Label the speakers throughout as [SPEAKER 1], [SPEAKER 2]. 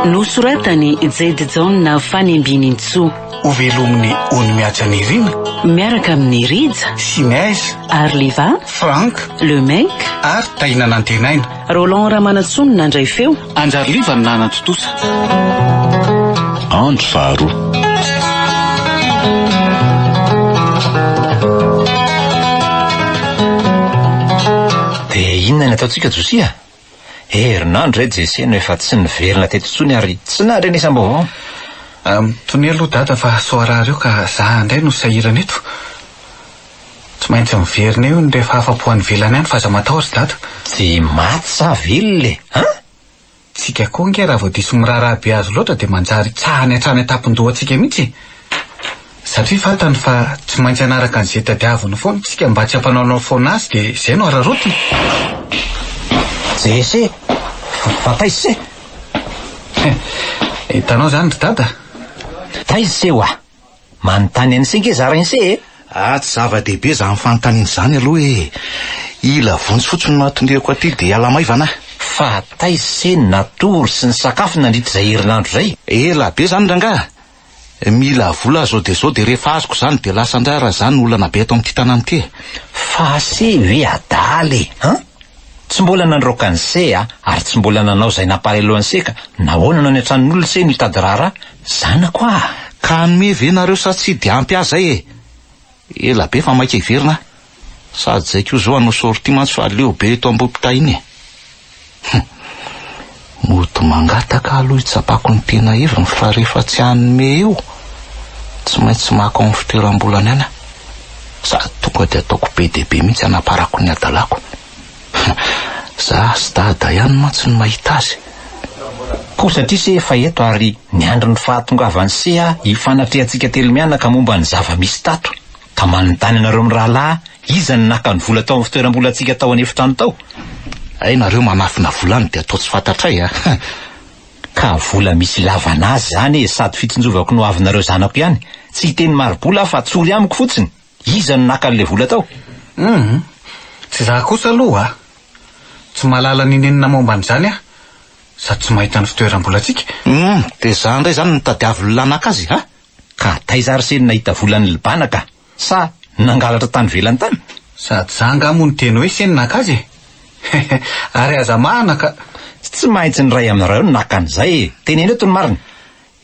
[SPEAKER 1] Nosoratany Jade Jaona Fanimbianintsoa. Ho velomin'ny
[SPEAKER 2] Ony Mihaja Nirina. Miaraka amin'ny
[SPEAKER 1] Rija. Sinez.
[SPEAKER 2] Arliva.
[SPEAKER 1] Frank. Le
[SPEAKER 2] Mec.
[SPEAKER 1] Ary Taina
[SPEAKER 2] Nantenaina. Roland Ramanantsoa
[SPEAKER 1] no nandray feo. Anjariliva no
[SPEAKER 2] nanatontosa.
[SPEAKER 3] Andro faharoa.
[SPEAKER 4] Dia inona ny ataontsika Josia? Herinandro izay Jesse no efa tsy niverina teto intsony ary tsy nandrenesam-baovao.
[SPEAKER 2] Mitonea aloha Dada fa soarara eo ka za indray no sahirana eto. Tsy maintsy miverina eo ny rehefa afa-po any ivelany any fa aza matahotra i Dada. Tsy maty
[SPEAKER 4] sa velona e? An!
[SPEAKER 2] Tsika koa ange raha vao diso miraharaha be azy loatra dia manjary hitsahany hatrany an-tampon-dohantsika mihitsy e! Satria fantany fa tsy maintsy hanaraka an'izay tadiaviny foana isika mba tsy hampanaonao foana azy dia izay no hararaotiny!
[SPEAKER 4] Ese! Fa taiza ise? Hitanao
[SPEAKER 2] izany ry Dada? Taiza
[SPEAKER 4] ise hoa? Manontany an'ise nge zarain'ise e! Ah tsy zava-dehibe
[SPEAKER 3] izany fanontaniana izany aloha e! Ila vonjy fotsiny no hahatoniako aty dia hiala maivana aho. Fa taiza
[SPEAKER 4] ise ny natory sy ny sakafo nandritra izay herinandro izay? Ela be izany rangaha!
[SPEAKER 3] Mila vola aho izao dia izao dia rehefa azoko izany dia lasa indray ary izany no olana be eto amin'ity tanàna ity e! Fa ise
[SPEAKER 4] ve adala e! An! Tsy mbola nandroaka ny se a, ary tsy mbola nanao izay nampahalelo an'i se ka, nahoana no any an-tranon'olona se no hitady raharaha? Zanako ah! Ka hanome
[SPEAKER 3] ve nareo sa tsy dia ampy ahy zay e! Ela be fa maika hiverina aho. Sady zay ko zao hanao sortie mantsy fa leo be eto Ambohipitay iny e! Hum! Mody mangataka aloha hitsapako ny tena heviny fa rehefa tsy hanome eo tsy maintsy maka ao amin'ny fitoeram-bolany any aho sady tonga dia ataoko be dia be mihitsy hanaparako ny hadalako. Za sy Dada ihany mantsy no mahita azy. Koa
[SPEAKER 4] satria se efa eto ary miandry ny fahatongavan'i se aho hifanatrehantsika telo mianaka momba ny zava-misy tato. Ka manontany anareo mirahalahy iza no naka ny vola tao amin'ny fitoeram-bolantsika tao an'efitrano tao? Hay nareo
[SPEAKER 3] manafina vola any dia atao tsy fantatray a!
[SPEAKER 4] Ka vola misy ilavana azy izany e, sady fitsinjovako ny hoavinareo zanako ihany, tsy hiteny mari-bola aho fa tsory amiko fotsiny, iza no naka an'ilay vola tao? Humm!
[SPEAKER 2] Tsy izaho kosa aloha a! Tsy mahalala nenenina momba an'izany aho, sady tsy mahita ny fitoeram-bolantsika. Humm! Dia izaho
[SPEAKER 3] indray izany no nitadiavy ny olona naka azy a! Ka taiza
[SPEAKER 4] ary se nahita vola ny lbana ka? Sa nangalatra tany velany tany? Sady za nga
[SPEAKER 2] mo niteny hoe se naka azy e! Ary aza mahana ka! Tsy maitsy
[SPEAKER 4] ny ray aminareo no naka an'izay e! Teneno eto ny marina!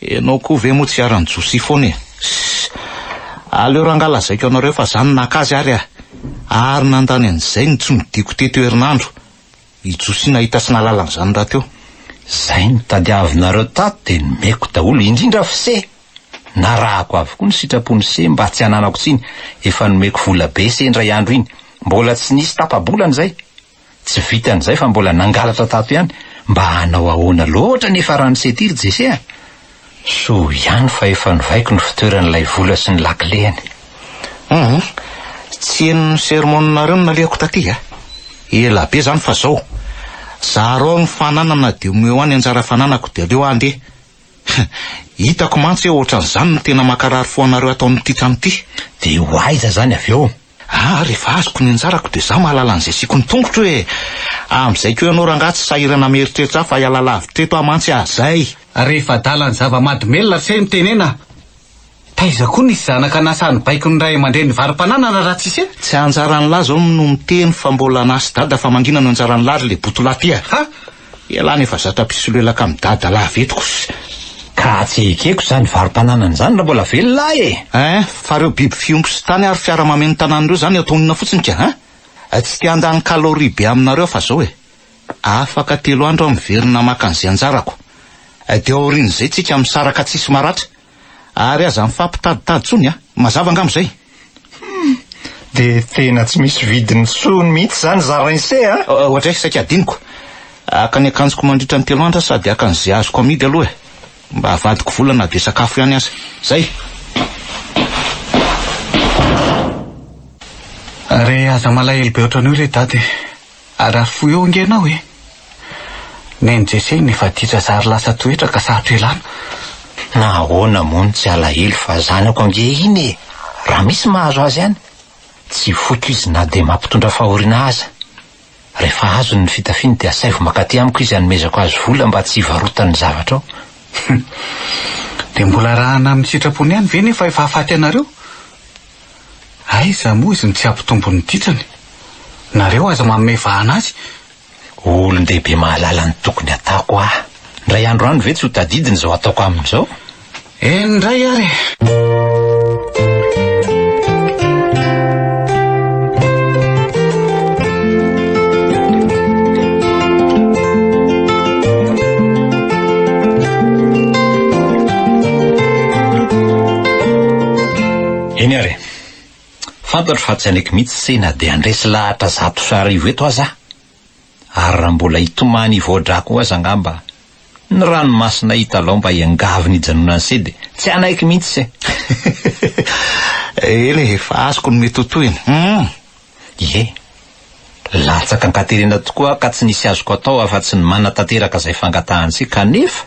[SPEAKER 4] Enao ko
[SPEAKER 3] ve mo tsy hiaran'i Josie foana e! Ssss! Aleo ranga lazaiko anareo fa za no naka azy ary a! Ary nandany an'izay no tsy nodiako teto herinandro! I Josia nahita sy nahalala an'izany rahateo. Izay
[SPEAKER 4] notadiavinareo tato dia nomeko daholo, indrindra fse! Narahako avokoa ny sitrapon'i se mba tsy hananako tsiny, efa nomeko vola be se indray andro iny, mbola tsy nisy tapa-bolana izay! Tsy vitan'izay fa mbola nangalatra tato ihany, mba hanao ahoana loatra anefa raha ny se ity ry Jese a! Soa ihany fa efa novaiko ny fitoeran'ilay vola sy ny lakileny. Humm,
[SPEAKER 3] tsy henony ny sermon-nareo no nalehako taty a! Ela be izany fa izao, zara ao ny fananana dia omeo ahy ny anjara fananako dia aleo aho andeha. Hitako mantsy hoe ohatran'izany no tena mankarary fo anareo ataon'ity trano ity. Dia ho aiza
[SPEAKER 4] izany avy eo? Aa rehefa azoko
[SPEAKER 3] ny anjarako dia za mahalala an'izay asiako ny tongotro e! Amin'izay ko ianao rangaha tsy sahirana am eritreritra ahy fa hiala lavitra teto aho mantsy ah zay! Rehefa adala ny
[SPEAKER 2] zava-mahadomelina ry se mitenena a! Taiza koa nisy zanaka nasa ny baiko ny ray aman-dreny varo-pananana raha tsisy e! Tsy anjaran'lah zao
[SPEAKER 3] no miteny fa mbola anah sy dada famanginana no anjaran'lah ry le botolahy ty a! Ha! Ialahy nefa zatra mpisolelaka am dadalav eto kos ka
[SPEAKER 4] tsy ekeko izany varom-pananana izany raha mbola velona ahy e! Eh, fa reo
[SPEAKER 3] biby fiompy sy tany ary fiara mameno tanàna reo zany ataonona fotsiny ka an! Tsy te handany calorie be aminareo aho fa zao e! Afaka telo andro aho miverina maka an'ze anjarako. Dia aorian'izay tsika misaraka tsisy maratra. Ary aza mifampitaditady tsony a! Mazava angamba izay? Humm!
[SPEAKER 4] Dia tena tsy misy vidiny intsony mihitsy izany zarainse a! Ohatray saika
[SPEAKER 3] adinoko. Haka ny akanjoko mandritra ny telo andro aho sady haka an'izay azoko amidy aloha e! Mba avadiko vola na dia sakafo ihany aza. Izay!
[SPEAKER 2] Ary aza malahelo be ohatran'io re Dada e! Arafo eo ange ianao e! Neny Jesse ny vaditra zary lasa toetra ka sarotra elana. Na
[SPEAKER 4] ahoana moa no tsy alahelo fa zanako ange iny e! Raha misy mahazo azy any, tsy foiko izy na dia mampitondra fahoriana aza. Rehefa azony ny fitafiany dia asaivo mankaty amiko izy hanomezako azy vola mba tsy hivarotany ny zavatrao.
[SPEAKER 2] Dia mbola arahana amin'ny sitrapony ihany ve nefa efa hahafaty anareo? Aiza moa izy no tsy hampitombo ny ditrany? Nareo aza manome vahana azy! Olon-dehibe
[SPEAKER 4] mahalala ny tokony ataoko aho. Indray andro any ve tsy ho tadidiny izao ataoko aminy izao? Eny indray
[SPEAKER 2] ary e!
[SPEAKER 4] Eny ary. Fantatro fa tsy haneky mihitsy se na dia handresy lahatra zato sy arivo eto aza aho. Ary raha mbola hitomany hivoa-drà koa aza angamba ny ranomasinay hitalao mba hiangaviny hijanonany se dia tsy hanaiky mihitsy se.
[SPEAKER 3] Eny e, efa azoko ny mety ho tohiny. Hum! Ie.
[SPEAKER 4] Latsaka an-katerena tokoa aho ka tsy nisy azoko atao afa-tsy ny manatanteraka izay fangatahany se kanefa.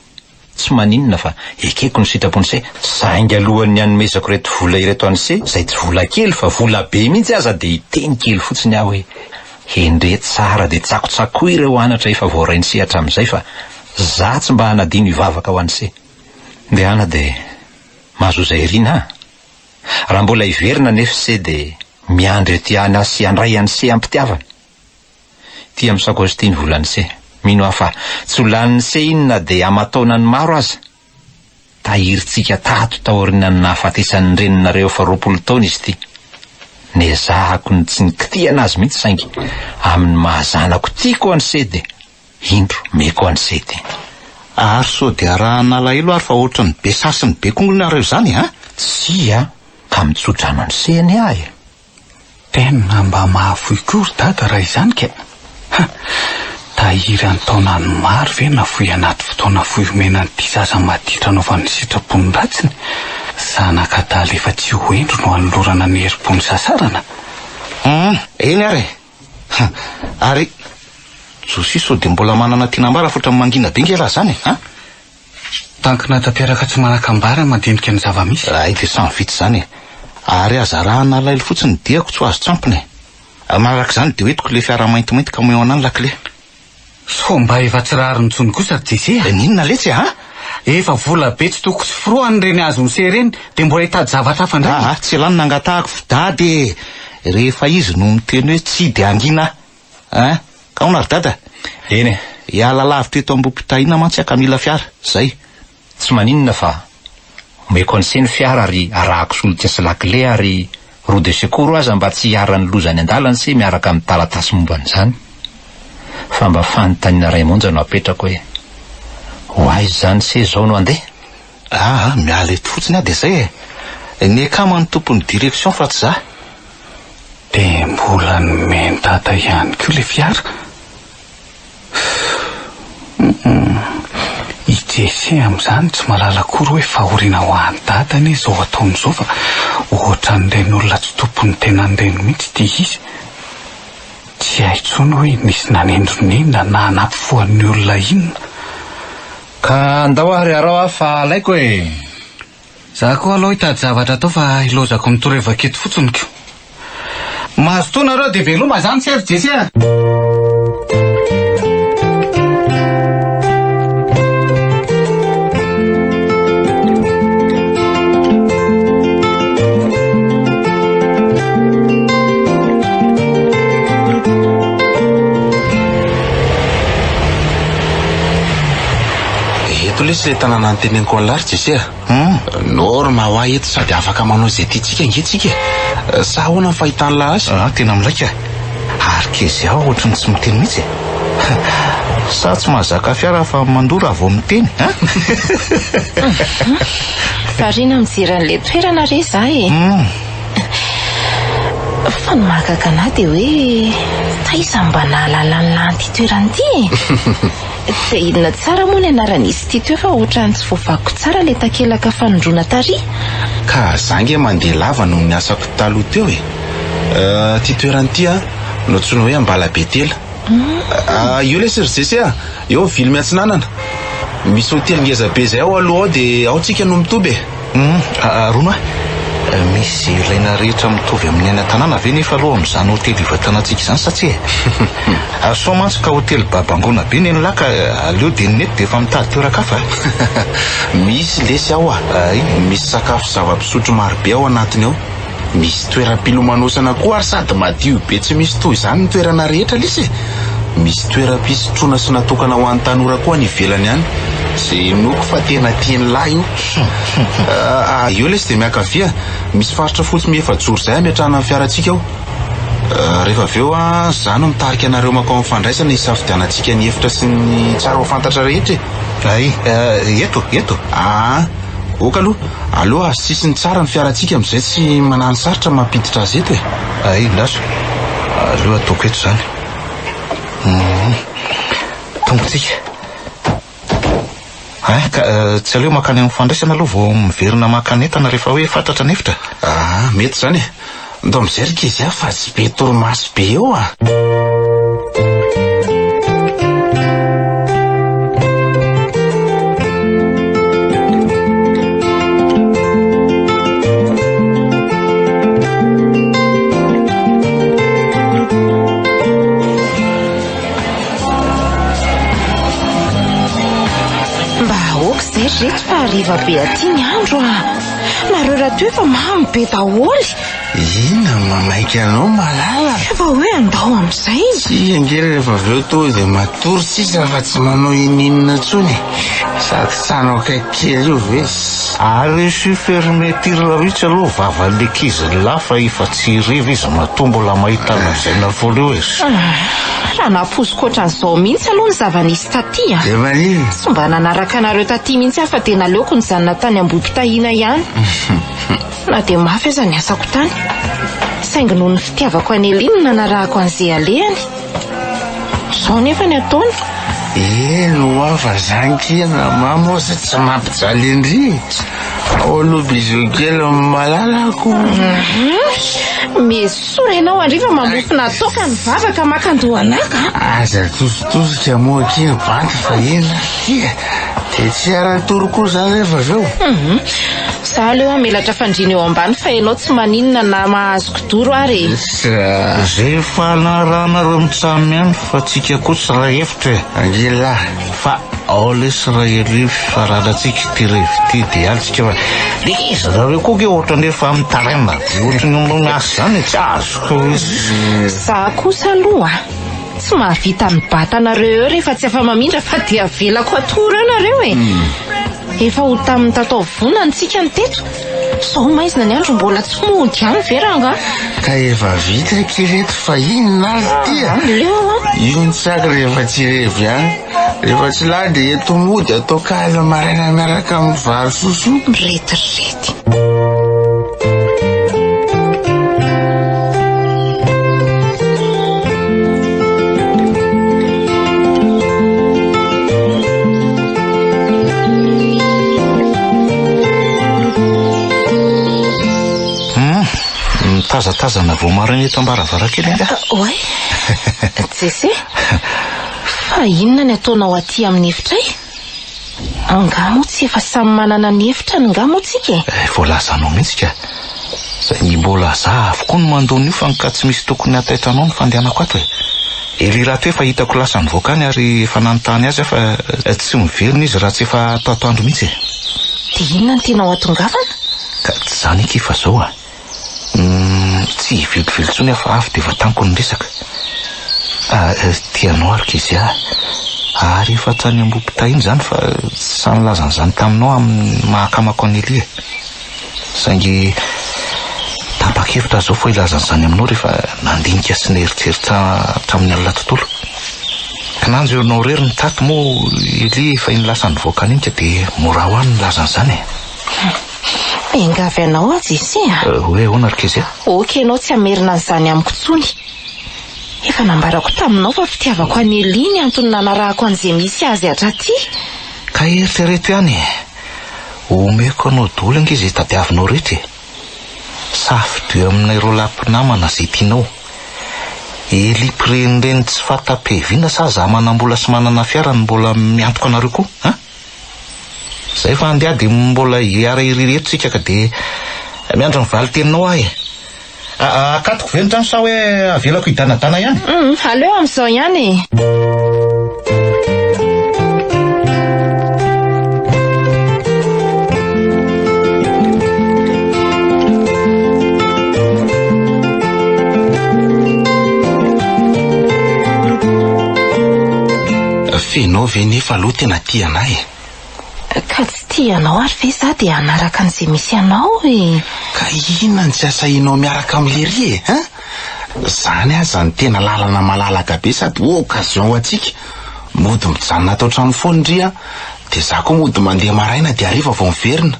[SPEAKER 4] Tsy maninona fa ekeko ny sitrapony se saingy alohan'ny hanomezako ireto vola ireto an'ise izay tsy vola kely fa vola be mihitsy aza dia hiteny kely fotsiny aho hoe hendre tsara dia tsakotsakoy ireo anatra efa voarain'ise hatramin'izay fa za tsy mba hanadino hivavaka ho an'ise. Ndehana dia mahazoa izay iriana an! Raha mbola hiverina anefa ise dia miandry ety ihany aho sy handray an'ise am-pitiavana. Tia amin'ny sakaosy ity ny volan'ny se. Mino aho fa tsy ho lanin'ny se iny na dia aman-taonany maro aza. Tahirintsika tato taorianan'ny nahafatesan'ny reninareo efa roapolo taona izy ity. Nezahako ny tsy nikitihana azy mihitsy saingy amin'ny maha zanako tiako an'i se dia indro meko an'i se ity. Ary sao
[SPEAKER 3] dia arahana alahelo ary fa ohatran'ny be sary sy ny be kongony nareo izany an! Tsia,
[SPEAKER 4] ka mitsodrano an'i se anie aho e! Tena
[SPEAKER 2] mba mahafoy koa ry dada raha izany kay! Ha! Tahiry an-taonany maro ve nafoy anaty fotoana fohy omena an'ity zaza maditra anaovan'ny sitrapony ratsiny? Zanaka adala efa tsy ho hendry no anolorana ny herim-pony sasarana? Humm!
[SPEAKER 3] Eny ary e! Ha! Ary Josie sao dia mbola manana tiana ambara fotra amin'ny mangina be nge raha izany e! Ha!
[SPEAKER 2] Tankina tanteraka tsy manakambara mandinika ny zava-misy. Hay dia samy vita izany
[SPEAKER 3] e! Ary aza arahana alailo fotsiny ny diako tsy ho azo tsampina e! Ary manaraka izany dia hoentiko ilay fiara maintimainty camion anà ny lakile. Sao
[SPEAKER 2] mba efa tsy rariny intsony kosa ry Jese a! Eh n'inona letsy e an!
[SPEAKER 3] Efa vola
[SPEAKER 2] be tsy toko tsy forohany ireny azon'i Seh ireny dia mbola hitady zavatra hafa indray e! Aa tsy lany nangatahako fo
[SPEAKER 3] dada e! Rehefa izy no miteny hoe tsia dia hangina aho. Hein? Aona ry dada? Eny e,
[SPEAKER 4] hiala lavitra
[SPEAKER 3] eto Ambohipitahiana mantsy aho ka mila fiara. Zay. Tsy maninona
[SPEAKER 4] fa omeko an'ise ny fiara ary arahako solika sy lakile ary roue de secours aza mba tsy hiharan'ny loza any an-dalana ise miaraka amin'ny taratasy momba an'izany. Fa mba fanontaniana iray monja no apetrako hoe ho aiza izany ise izao no handeha? Aa miala eto fotsiny
[SPEAKER 3] aho dia zay e! Ny akama no tompon'ny direction fa tsy za.
[SPEAKER 2] Dia mbola nomen-dada ihany koa ilay fiara. Humm i Jesse amin'izany tsy mahalala akory hoe fahoriana ho an'i dada anie izao ataony izao fa ohatran'ireny olona tsy tompon'ny tenany ireny mihitsy ity izy. Tsy hay intsony hoe nisy nanindronindrona na nampifoha ny olona inona. Ka
[SPEAKER 4] andao ary iarao aho fa alaiko e! Za
[SPEAKER 2] koa alou hitady zavatra atao fa ilozako ny torevaka eto fotsiny ko. Mazotoa nareo de veloma izany Sefo Jesse a!
[SPEAKER 5] Eto lesy ilay tanàna noteneniko an'lah ry Jesse a. Hum, norma ho ahy eto sady afaka manao izay tiantsika ange tsika e. Sa ahoana ny fahitan'lah azy? Ah, tena milaika.
[SPEAKER 3] Ary Kezia ohatry ny tsy miteny mihitsy e. Sa tsy mahazaka fiara fa mandoa raha vao miteny a?
[SPEAKER 6] Variana mijery an'ilay toerana re zah e. Hum. Fa ny mahagaga anah dia hoe taiza no mba nahalala ny lahy an'ity toerana ity e? Dia inona tsara moa ny anaran'izy ity teo fa ohatrany tsy voavakiko tsara ilay takelaka fanondroana tary? Ka za
[SPEAKER 5] ange mandeha lava noho ny asako taloha teo e! Ity toerana ity an! Nantsoina hoe Ambalabetela. Io lesy ry Jesse a! Eo Vilmy Atsinanana, misy hotely ngeza be zay ao aloha ao dia ao tsika no
[SPEAKER 3] mitoby
[SPEAKER 5] e! Humm Arona a,
[SPEAKER 3] misy ilaina rehetra mitovy amin'ny any an-tanàna ve nefa aloha amin'izany hotely hivatanantsika izany sa tsia e? Soa mantsy ka hotely babangoana be nenlah ka aleo dia ny mety dia efa mitady toeran-kafa e!
[SPEAKER 5] Misy lesy ao a! Hay, misy sakafo sy zava-pisotro maro be ao anatiny ao. Misy toeram-pilomanosana koa ary sady madio be tsy misy toy izany ny toerana rehetra lesy e! Misy toeram-pisotroana sy natokana ho an'ny tanora koa any ivelany any. Izay henoiko fa tena tian'i lahy io. Ah, eo lesy dia miankavia, misy faritra fotsy miefajoro izay hametrahana ny fiarantsika ao. Ah, rehefa avy eo an, izaho no mitarika anareo mankao amin'ny fandraisana hisafidianantsika ny efitra sy ny tsara ho fantatra rehetra e! Hay,
[SPEAKER 3] eto, eto. Ah.
[SPEAKER 5] Ok aloha, aleo azo sisiny tsara ny fiarantsika amin'izay tsy manano sarotra mampiditra azy eto e. Hay indasy,
[SPEAKER 3] aleo ataoko eto izany. Hmm. Tongotsika. Hay, ka eh, tsy aleo makany amin'ny fandraisana aloha vao miverina maka ny entana rehefa hoe fatratra ny efitra. Ah, mety izany
[SPEAKER 5] e. Ndao mijery kizzy a fa tsy be torimaso be eo a!
[SPEAKER 6] Mba aoka izay ry reto fa hariva be aty ny andro a! Nareo rato efa mamy be daholo. Ina
[SPEAKER 5] manaiky anao malala. Efa hoe andao
[SPEAKER 6] amin'izay. Tsy ange rehefa
[SPEAKER 5] avy eo toa dia matory sisa fa tsy manao ininona intsony. Sady tsano akaiky kely io ve. Ary io si
[SPEAKER 3] fermeture io tsy aloha vavan'ny ankizy lahy fa efa tsy hiriva izy matoa mbola mahita lazaina foana eo e. Tena
[SPEAKER 6] nampoiziko ohatran'izao mihitsy aloha ny zava-nisy taty a! Efa i? Tsy mba
[SPEAKER 5] nanaraka anareo
[SPEAKER 6] taty mihitsy aho fa dia naleoko nijanona tany Ambohipitahiana ihany. Na dia mafy aza ny asako tany. Saingy noho ny fitiavako an'i Elie no nanarahako an'izay alehany. Izao anefa ny ataony. Eny
[SPEAKER 5] ho'a fa zany kia namà moa izay tsy mampijaly an-dry e. Ao aloha bisous kely amin'ny malalako.
[SPEAKER 6] Meso. Soa re ianao andry fa mamofona toaka ny vava ka maka andohanaka a! Aza
[SPEAKER 5] tositosika moa akia ry bandy fa ela akia dia tsy hiara-hitory koa izaho rehefa avy eo. Izaho aleo
[SPEAKER 6] hamelatra fandriana eo ambany fa ianao tsy maninona na mahazo kidoro ary e! Izay
[SPEAKER 3] efa anarahanareo mitsam ihany fa tsika koa tsy raha efitra e! Angilahy
[SPEAKER 5] fa.
[SPEAKER 3] Ao lesy ray aloha fifaranantsika ity revy ity dia antsika fa iza nareo koa ke ohatrany efa mitaraina be ohatrany manao ny asa zany tsy azoko Za
[SPEAKER 6] kosa aloha tsy mahavita mibata anareo eo rehefa tsy afa-mamindra fa dia avelako hatory eo nareo e. Hmm. Efa ho tamin'ny tato vona ny tsika ny teto. Sao maizina ny andro mbola tsy mody any ve ranga? Ka efa
[SPEAKER 5] vita aky reto fa inona ary ty? Ah, leo an. Intsaka rehefa tsy revy any. Rehefa tsy lahy dia eto mody atao kaly maraina miaraka amin'ny vary soso. Retirety.
[SPEAKER 3] Mitazatazana vao maraina eto am-baravarankely angaha? Oay,
[SPEAKER 6] Jesse. Fa inona ny ataonao aty amin'ny efitray? Angaha moa tsy efa samy manana ny efitrany nga moa tsika e? Eh, voalazanao mihitsy
[SPEAKER 3] ka. Saingy mbola za avokoa no mandoa an'io fa anka tsy misy tokony hahataitra anao ny fandehanako ato e. Ery Ratoa efa hitako lasa nivoaka any ary efa nanontany azy aho fa tsy miverina izy raha tsy efa ato atoandro mihitsy e. Dia inona
[SPEAKER 6] no tianao hatongavana? Ka tsy izany
[SPEAKER 3] akia fa izao a. Tsy hivelively intsony aho fa avy dia efa tamiko ny resaka. Tia anao ary Kezia a! Ary efa hatrany am-boho-po tahiana izany fa sahy nilaza an'izany taminao amin'ny maha-akamako an'i Elia e! Saingy tapa-kevitra aho izao fa hilaza an'izany aminao rehefa nandinika sy nieritreritra hatramin'ny alina tontolo. Kinanjo ianao irery no tato moa Elia efa iny lasa nivoaka an'iny ka dia mora ho ahy ny nilaza an'izany e!
[SPEAKER 6] Miangavy anao aho Jesse a. Euh, hoe ahoana ry Kezia?
[SPEAKER 3] Ok ianao tsy hamerina
[SPEAKER 6] an'izany amiko intsony. Efa nambarako taminao fa fitiavako an'i Elie ny antony nanarahako an'izay misy azy hatraty. Ka
[SPEAKER 3] eritrereto ihany e. Omeko anao daholo ange izay tadiavinao rehetra e. Safidio eo aminay roa lahy mpinamana izay tianao. Elie mpirenireny tsy fanta-piaviana sa za manam-bola sy manana fiara no mbola miantoka anareo koa an? Zay fa andeha dia mbola hiara irery eto tsika ka dia miandry ny valin-teninao aho e. Akatoko ve ny trano sa hoe avelako hidanadana ihany? Hum, aleo amin'izao
[SPEAKER 6] ihany e.
[SPEAKER 5] F'enao ve nefa aloha tena tia anah e? Ka tsy
[SPEAKER 6] tia anao ary ve za dia hanaraka an'izay misy anao e? Ka inona
[SPEAKER 5] no tsy asahinao miaraka amin'i Léry e? Hein? Zany aza no tena lalana malalaka be sady occasion ho antsika. Mody mijanona ato an-trano foana ndry an! Dia za koa mody mandeha maraina dia hariva vao miverina.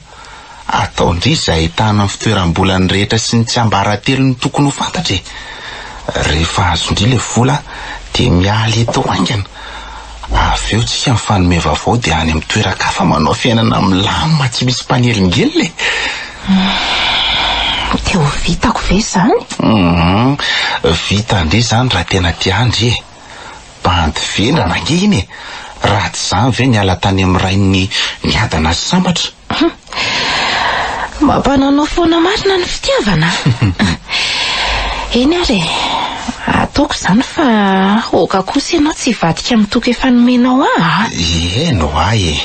[SPEAKER 5] Ataon-dry izay ahitana ny fitoeram-bolany rehetra sy ny tsiambaratelony tokony ho fantatra e! Rehefa azon-dry ilay vola dia miala eto haingana, avy eo tsika mifanome vaovao dia any amin'ny toeran-kafa manao fiainana milamina tsy misy mpanelingelina e!
[SPEAKER 6] Dia ho vitako ve izany? Humm, vitan-dry
[SPEAKER 5] izany raha tena tian-dry e! Bandy vendrana ange iny e! Raha tsy izany ve niala tany amin'ny rain'ny miadana sy sambatra? Humm.
[SPEAKER 6] Mampananao foana marina ny fitiavana a! Eny ary e, ataoko izany fa aoka kosa ianao tsy hivadika amin'ny toky efa nomenao ahy a! Ihaino
[SPEAKER 5] ahy e!